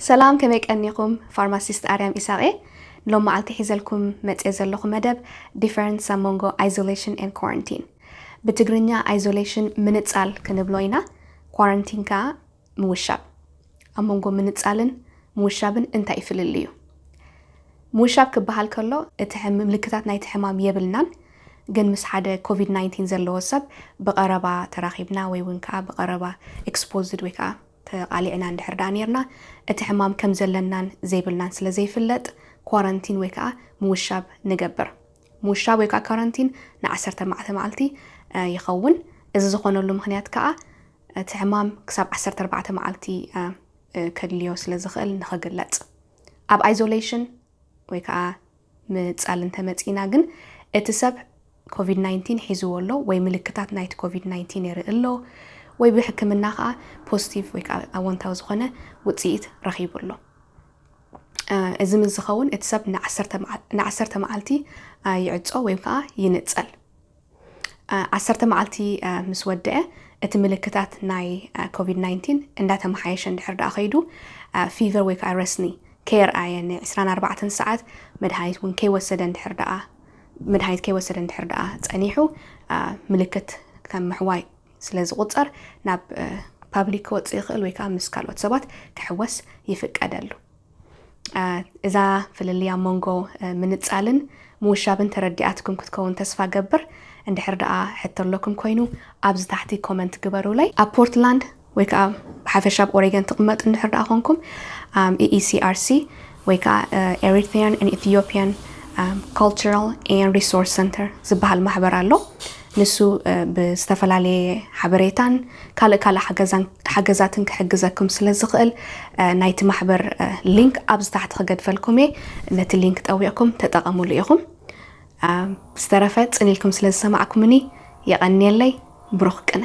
ሰላም ከመይ ቀኒኹም ፋርማሲስት ኣርያም ኢሳቕ እየ ሎም መዓልቲ ሒዘልኩም መጽየ ዘለኹ መደብ ዲፈረንስ ኣብ መንጎ ኣይዞሌሽን ኤን ኳረንቲን ብትግርኛ ኣይዞሌሽን ምንጻል ክንብሎ ኢና ኳረንቲን ከኣ ምውሻብ ኣብ መንጎ ምንጻልን ምውሻብን እንታይ ፍልልዩ ምውሻብ ክበሃል ከሎ እቲ ምልክታት ናይቲ ሕማም የብልናን ግን ምስ ሓደ ኮቪድ 19 ዘለዎ ሰብ ብቐረባ ተራኺብና ወይ እውን ከዓ ብቐረባ ኤክስፖዝድ ወይ ከዓ ተቓሊዕና እንድሕር ደኣ ኔርና፣ እቲ ሕማም ከም ዘለናን ዘይብልናን ስለ ዘይፍለጥ፣ ኳረንቲን ወይ ከኣ ምውሻብ ንገብር። ምውሻብ ወይ ከኣ ኳረንቲን ንዓሰርተ ኣርባዕተ መዓልቲ ይኸውን። እዚ ዝኾነሉ ምኽንያት ከኣ፣ እቲ ሕማም ክሳብ ዓሰርተ ኣርባዕተ መዓልቲ ከድልዮ ስለ ዝኽእል ንኽግለጽ። ኣብ ኣይዞለይሽን፣ ወይ ከኣ ምንጻል እንተ መጺእና ግን እቲ ሰብ ኮቪድ ናይንቲን ሒዝዎ ኣሎ ወይ ምልክታት ናይቲ ኮቪድ ናይንቲን የርኢ ኣሎ ወይ ብሕክምና ከኣ ፖስቲቭ ወይ ከኣ ኣወንታዊ ዝኾነ ውጽኢት ረኺቡ ኣሎ። እዚ ምስ ዝኸውን እቲ ሰብ ንዓሰርተ መዓልቲ ይዕጾ ወይ ከኣ ይንጸል። ዓሰርተ መዓልቲ ምስ ወደኣ እቲ ምልክታት ናይ ኮቪድ ናይንቲን እንዳተመሓየሸ እንድሕር ደኣ ከይዱ ፊቨር ወይ ከዓ ረስኒ ከየርኣየ ን ዕስራን ኣርባዕተን ሰዓት መድሃኒት እውን ከይወሰደ እንድሕር ደኣ መድሃኒት ከይወሰደ እንድሕር ደኣ ጸኒሑ ምልክት ከም ምሕዋይ ስለ ዝቑጸር ናብ ፓብሊክ ክወጽእ ይኽእል ወይ ከዓ ምስ ካልኦት ሰባት ክሕወስ ይፍቀደሉ። እዛ ፍልልይ ኣብ መንጎ ምንጻልን ምውሻብን ተረዲኣትኩም ክትከውን ተስፋ ገብር እንድሕር ደኣ ሕቶ ኣሎኩም ኮይኑ ኣብዚ ታሕቲ ኮመንት ግበሩለይ። ኣብ ፖርትላንድ ወይ ከኣ ብሓፈሻ ኣብ ኦሬገን ትቕመጡ እንድሕር ደኣ ኮንኩም ኣም EECRC ወይ ከኣ Eritrean and Ethiopian Cultural and Resource Center ዝበሃል ማሕበር ኣሎ። ንሱ ብዝተፈላለየ ሓበሬታን ካልእ ካልእ ሓገዛትን ክሕግዘኩም ስለ ዝኽእል ናይቲ ማሕበር ሊንክ ኣብዚ ታሕቲ ክገድፈልኩም እየ። ነቲ ሊንክ ጠዊቕኩም ተጠቐሙሉ ኢኹም። ብዝተረፈ ጽን ኢልኩም ስለ ዝሰማዕኩምኒ የቐንየለይ። ብሩኽ ቅነ።